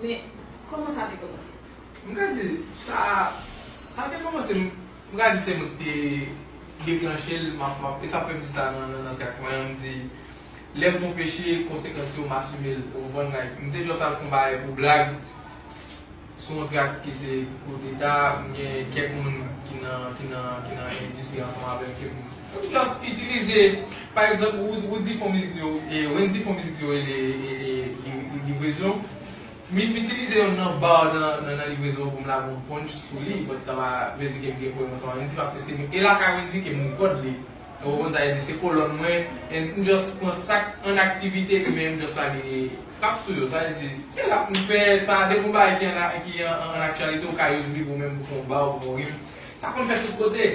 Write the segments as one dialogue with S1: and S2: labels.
S1: Men, kòman
S2: sa te kòmanse? M ka di, sa, sa te kòmanse, m ka di se mwen ki te deklanche l, m ap, m ap, e sa k fè m di sa nan, nan tèt mwen an, m di, lè m fè yon peche, konsekans yo, m asime l, ou konprann, like, m te jis al fè yon bagay pou blag, sou yon trak ki se koudeta, m gen kèk moun ki nan, ki nan, ki nan endistri ansanm avè m ke m. Poukilòs itilize pa egzanp Roody fon mizik yo Wendy fon mizik yo rele livrezon min m itilize yonn nan bar nan livrezon pou m lage yon punch sou li but sa pa vle di ke m gen pwoblèm ansanm ak Wendy paske se e lakay Wendy ke m rekòd li ou konprann sa vle di se kolòn mwen and m just pran sak an aktivite men m just lage frap sou yo sa vle di se rap m fè sa depi yon bagay ki an aktyalite ou ka use li pou menm pou fon bar ou pou fon rim sa konn fèt tout kote.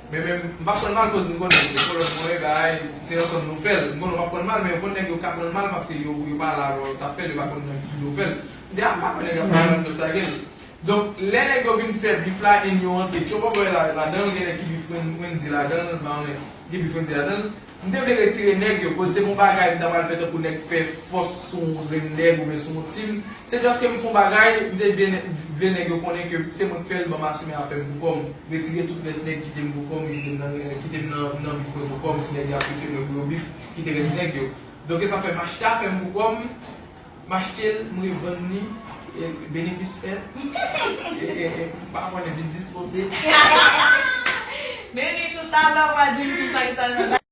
S2: Men menm, m pa prann mal koz m konnen ke kolòn mwen bay, se ansanm nou fè l. M konnen w pa prann mal men konn nèg yo ka prann mal paske yo pa la lè w t ap fè l, yo pa konn nan ki jou w fè l. M di a, m pa kwè nèg la prann mal m dosage l. Donk, lè nèg yo vin fè bif la e n yo rantre Tchobòbòy la ladan l, gen nèg ki bif Wendy ladan l, m pa konnen ki bif Wendy ladan l. M te vle retire nèg yo koz se pa yon bagay m ta pral fè tankou nèg fè fòs sou yon grenn nèg oubyen sou yon timoun, se just ke m fè yon bagay m te vle nèg yo konnen ke se mwen k fè l banm asime afè m pou kò m, retire tout rès nèg kite m pou kò m kite m nan kite m nan bif mwen pou kò m si nèg yo ap bifem yo pou yo bif kite rès nèg yo. Donk e sa fè m achte afè m pou kò m, m achte l m revann li benefis fèt m pa konnen biznis pote.
S1: Depi tout
S2: alè
S1: w pa di m kisa
S2: ki t
S1: al nan.